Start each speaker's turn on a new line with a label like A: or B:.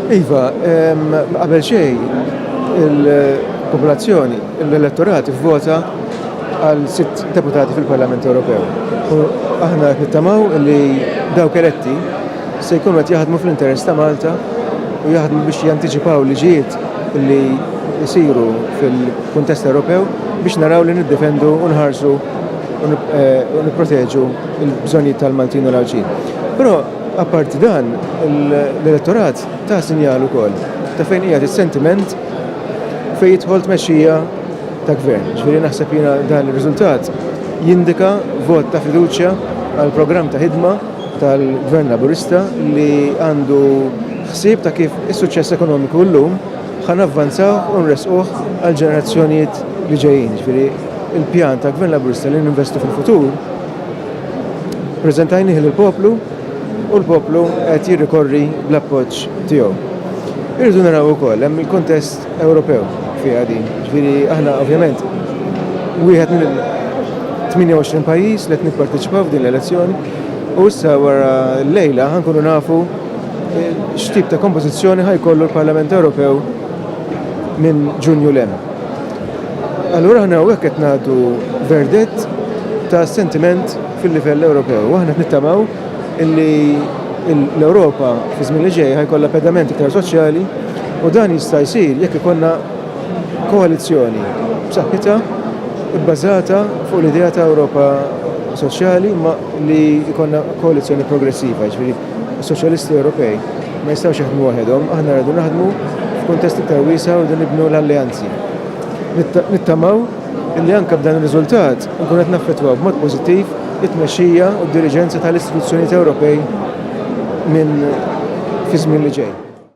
A: Iva, qabel xejn il-popolazzjoni, l-elettorat vvota għal sitt deputati fil-Parlament Ewropew. U aħna nittamaw li dawk eletti se jkunu qed jaħdmu fl-interess ta' Malta u jaħdmu biex jantiċipaw liġijiet li jisiru fil-kuntest Ewropew biex naraw li niddefendu u nħarsu u eh, nipproteġu il-bżonnijiet tal-Maltin u l-Għawdxin. Però apparti dan, l-elettorat ta' sinjal ukoll ta' fejn qiegħed is-sentiment fejn jidħol tmexxija ta' gvern. Ġifieri naħseb jiena dan ir-riżultat jindika vot ta' fiduċja għal programm ta' ħidma tal-Gvern Laburista li għandu ħsieb ta' kif is-suċċess ekonomiku llum ħa navvanzawh u nressquh għall-ġenerazzjonijiet li ġejjin. Il-pjan ta' Gvern Laburista li ninvestu fil-futur preżentajnih lill-poplu u l-poplu qed jirrikorri bl-appoġġ tiegħu. Irridu naraw ukoll hemm il-kuntest Ewropew fiha din. Ġifieri aħna ovvjament wieħed minn 28 pajjiż li qed nipparteċipaw f'din l-elezzjoni u issa wara l-lejla ħankunu nafu x'tip ta' kompożizzjoni ħajkollu l-Parlament Ewropew minn Ġunju l Allura aħna hawnhekk qed nagħtu verdett ta' sentiment fil-livell Ewropew. U aħna nittamaw illi l-Ewropa fi żmien li ġej ħajkollha pedament iktar soċjali u dan jista' jsir jekk ikollna koalizzjoni b'saħħitha bbażata fuq l-idea ta' Ewropa soċjali ma li jkollna koalizzjoni progressiva, ġifieri Is-Soċjalisti Ewropej ma jistgħux jaħdmu waħedhom, aħna rridu naħdmu f'kuntest iktar wiesa' u rridu nibnu l-alleanzi. Nittamaw li anke b'dan ir-riżultat inkunu qed naffettwaw b'mod pożittiv it-tmexxija u d-diriġenza tal-istituzzjonijiet Ewropej minn fiż-żmien li ġej.